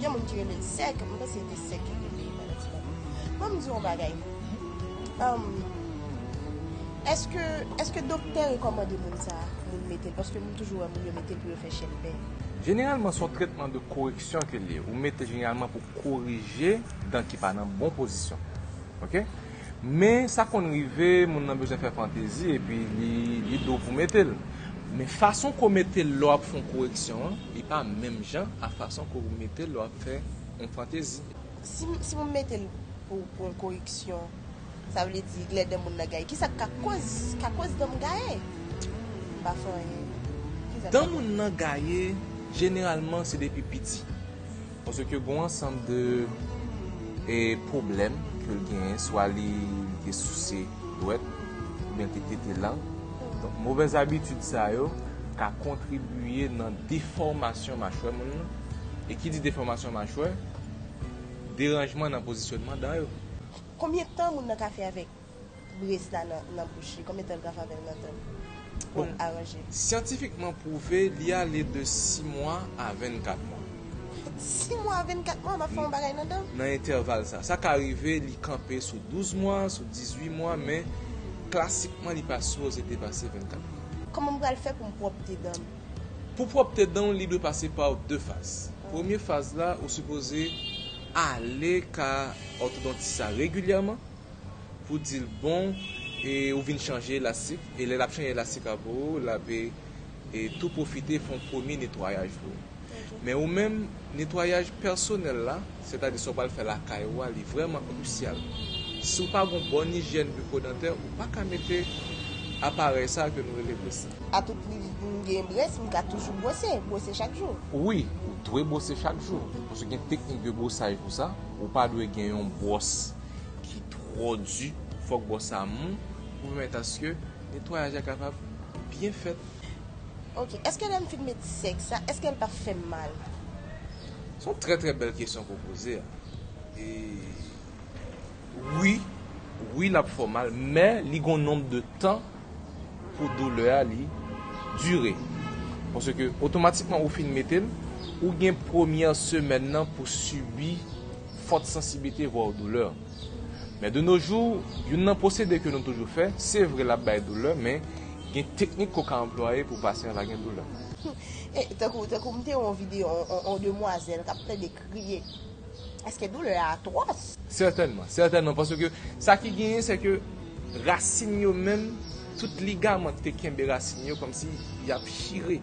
Gen moun ki rele l sèk, m panse se te sèk ki te peye pandan ti tan an. Bon m di w yon bagay, èske, èske doktè rekòmande moun sa moun mete l paske m toujou wè moun yo mete l pou yo fè chèlbè. Jeneralman se yon tretman de koreksyon ke l ye, ou mete jeneralman pou korije dan ki pa nan bon pozisyon ok. Men, sa konn rive, moun nan bezwen fè fantezi epi li do pou mete l. Men fason ke w mete l lè w ap fè yon koreksyon an, li pa menm jan a fason ke w mete l lè w ap fè yon fantezi. Si moun mete l pou yon koreksyon, sa vle di lè dan moun nan gaye. Kisa k ka koz dan m gaye? M pa fè anyen. Dan moun nan gaye, jeneralman se depi piti. Paske gon ansanm de pwoblèm ke l genyen, swa li te souse dwèt oubyen l te tete lang. Donk movèz abitid sa yo ka kontribiye nan defòmasyon machwè moun nan. E ki di defòmasyon machwè, deranjman nan pozisyonman dan yo. Konbyen tan moun nan ka fè avèk. bris la nan bouch li, konbyen tan l pral avè l nan tan pou l aranje? Syantifikman pwouve li ale de 6 mwa a 24 mwa. 6 mwa a 24 mwa m ap fè yon bagay nan dan m? Nan entèval sa. Sa ka rive li kanpe sou 12 mwa, sou 18 mwa men klasikman li pa sipoze depase 24 mwa. Kòman m pral fè pou m pwòpte dan m? Pou pwòpte dan w li dwe pase pa w 2 faz. Premye faz la ou sipoze ale ka òtodontis la regilyèman. Pou dil bon e ou vin chanje elastik e lè lap chanje elastik la pou ou lap e tou pwofite fon premye netwayaj pou ou. Men ou menm netwayaj pèsonèl la, sètadi sa ou pral fè lakay ou a li vrèman krisyal. Si ou pa gon bon ijyèn bikodantè ou paka mete aparèy sa ke nou rele brès la. A tout pri m gen brès m ka toujou bwose, bwose chak jou? Wi, ou dwe bwose chak jou. Paske gen teknik de bwosaj pou sa, ou pa dwe gen yon bwòs. ki twò di fòk bò sa mou pou pèmèt aske netwayaj la kapab byen fèt. Ok eske lèm fin met sèk sa eskel pap fèm mal. Son trè trè bèl kesyon ke w poze a e wi wi lap fè w mal men li gon nonb de tan pou doulè a li dire. Pase ke otomatikman ou fin mete l, ou gen premyè semèn nan pou sibi fòt sansiblite vwao doulè. Men de no jou, youn nan pwosede ke nou toujou fè, se vre l ap bay doulè men gen teknik ke w ka anplwaye pou pasyan va gen doulè. Tankou m te wè yon videyo yon demwazèl k ap plede. kriye. Eske doulè a atwòs? Sètènman, sètènman, paske sa ki genyen se ke rasin yo menm, tout ligaman ki te kenbe rasin yo kòmsi y ap chire.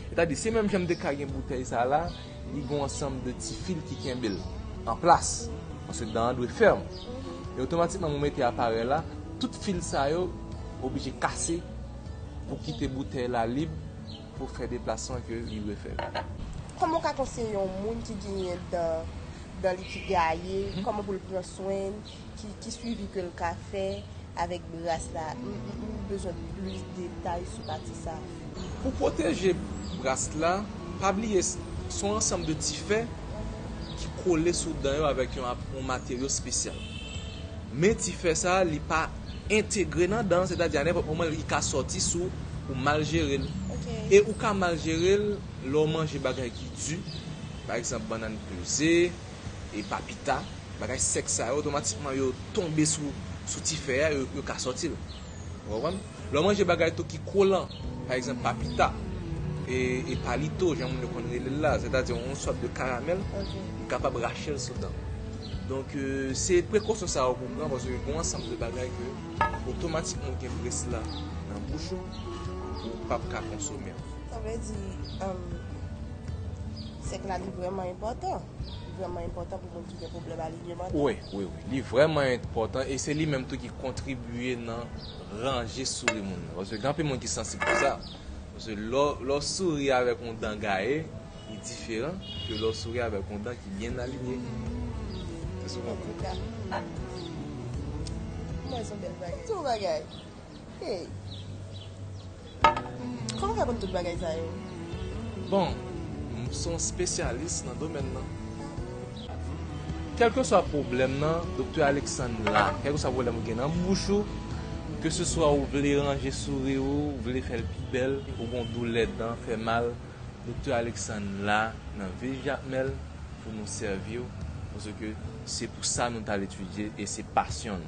Sètadi, se menm jan m te ka gen boutèy sa la, li gen yon ansanm de ti fil ki kenbe l an plas, paske dan an dwe fèm. E otomatikman mwen mete aparèy la, tout fil sa yo oblije kase pou kite boutèy la lib. pou fè deplasman ke li dwe fè yo. Kòman ou ka konseye yon moun ki genyen dan dan li ki gaye, kòman pou l pran swen l, ki swivi ke l ka fè avèk bras la, m bezwen plis detay sou pati sa a. Pou pwoteje bras la, pa bliye se yon ansanm de ti fè ki kole sou dan yo avèk yon materyo spesyal. Men ti fè sa a li pa. entegre nan dan, sètadi a nenpòt moman li ka sòti si w ou mal jere l. E ou ka mal jere l lè w manje bagay ki di, pa egzanp bannann peze, e papita, bagay sèk sa yo otomatikman yo tonbe sou ti fè a, yo ka sòti l. Ou konprann? Lè w manje bagay tou ki kolan, pa egzanp papita, e palito jan moun yo konn rele l la, sètadi yon sòt de karamèl, li kapab rache l sou dan. Donk se prekosyon sa yo pou w pran paske gon ansanm de bagay ke otomatikman ou gen près la nan bouch ou, ou pap ka konsome l. Sa vle di sèk la li vrèman enpòtan? Li vrèman enpòtan pou moun ki gen pwoblèm alinyeman? Wi, wi, wi. Li vrèman enpòtan e se li menm tou ki kontribye nan ranje souri moun nan. Paske gen anpil moun ki sansib pou sa. Paske lè w souri avèk yon dan gaye, Li diferan ke lè w souri avèk yon dan ki byen alinye. Se souvan kou. Kouman son bèl bagay. Son bagay. Hey. Kouman fè konn tout bagay sa yo? Bon, m son spesyalis nan domèn nan. Kèlkeswa pwoblèm nan, Doktè Alexandre la. Kèlkeswa pwoblèm ou gen nan bouch ou, keseswa ou vle ranje souri ou, ou vle fè l pi bèl, ou gen yon doulè dan, fè mal. Doktè Alexandre la nan vil Jakmèl pou nou sèvi w paske se pou sa nou t al etidye e se pasyon n.